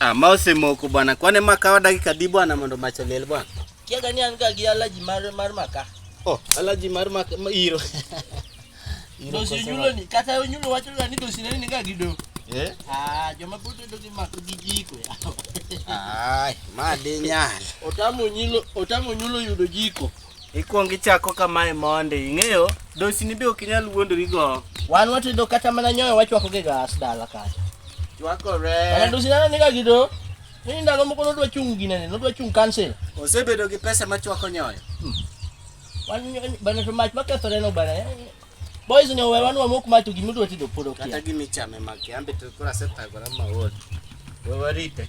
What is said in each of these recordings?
Ah, ma osemoko bwana. Kwane makawa dakika di bwana mondo mach oliel bwana. Kiaga ni an ga gi alaji mar mar maka. Oh, alaji mar maka ma iro. iro dosi yulo ni kata yulo wacho ga ni dosi ni ga gi do. Eh? Ah, joma bote do gi mak gi jiko. Ai, ma de nyal. Otamo nyilo, otamo nyulo yudo jiko. Ikwong ichako kamae mondi, ing'eyo dosini be ok inyal wuondori go. Wan watedo kata mana nyoyo wachwako gi gas dala kata. Chwakore. Ana dosi nana niga gido. Ni ndalo moko nodwa chung' ginene, nodwa chung' cancel. Osebedo gi pesa machwako nyoyo. Wan bana to mach makethore no bana. Boys ni owewa nwa mok matu gimi dwa tedo podo kia. Kata gimi chame maki ambe to kora seta gora ma wod. We warite.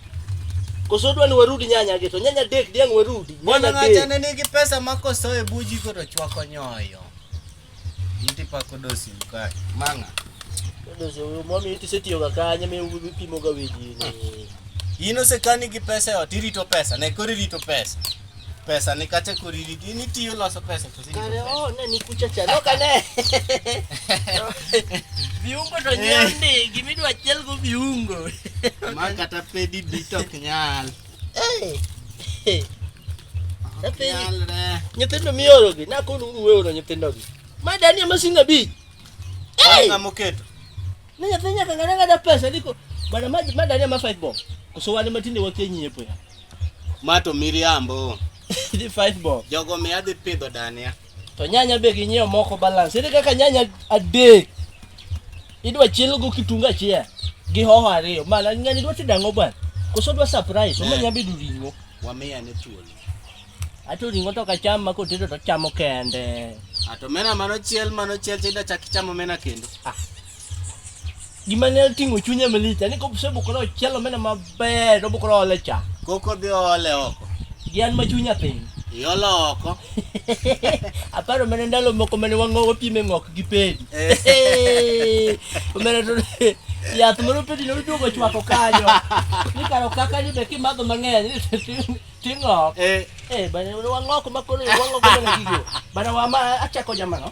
Koso dwa ni warudi nyanya geto. Nyanya dek diang warudi. Mwana ngacha ne nigi pesa mako so e buji ko to chwako nyoyo. Inti pa ko dosi mka. Manga. Ko dosi yo mami iti seti yoga kanya me ubi pimo ga weji. Yino se kani gi pesa yo tirito pesa. Ne kori rito pesa. pesa ni kate kuriri di ni tiyo loso pesa to sini kare oh ne ni kucha cha no kane viungo to nyandi eh. gimi dwa chel go viungo ma kata pedi di to nyal eh eh nyithindo mioro gi na kono uru weoro nyithindo gi ma dani ama singa bi eh ngamo keto ne nyathi nyaka ngada ngada pesa diko bana ma dani ama 5 bob koso wane matinde wakenyi epo ya Ma to miriambo. Idhi five bob. Jogo mi adhi pidho dania. To nyanya be ginyiewo moko balance. Ere kaka nyanya adek idwa chiel go kitungu achiel gi hoho ariyo. Mana ng'ani dwa tedo ang'o bwana? Koso dwa surprise, omo Eh. nya bedo ring'o. Wamiya ne thuolo. Ato ring'o to kacham ma kotedo to chamo kende. Ato mena mano chiel mano chiel chida chak ichamo mena kendo. Ah, Gima ne oting'o chunye malich en ni kosebukore ochielo mene maber to obukore ole cha. Koko dhi ole oko. Gi an ma chunya piny. Iolo oko. Aparo mene ndalo moko mene wang'o wapime ng'ok gi pedi. Eh. Mene to yath moro pedi ne oduogo chwako kanyo. Ni karo kaka ni be kimadho mang'eny ting'ok. Eh. Eh, bana wang'ok makoro wang'ok mene gigo. Bana wama achako jamano.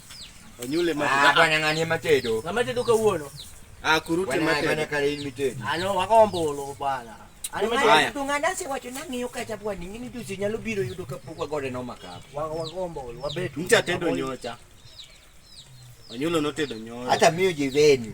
Onyule ma. Ah, bwana ngani matedo. Na matedo ka uono. Ah, kurute matedo. Bwana kale ni matedo. Ano ah, wakombolo bwana. Ano matedo tunganda se wacho na ngiyo kacha bwana ningini juzi nyalo biro yudo ka pokwa gode no makap. Wakombolo wabetu. Mtatendo nyocha. Onyulo notedo nyocha. Hata mimi jiveni.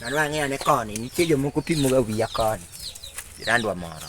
Mano ang'eyo ne koni, nitie jomoko pimoga wiya koni. Jirandwa moro.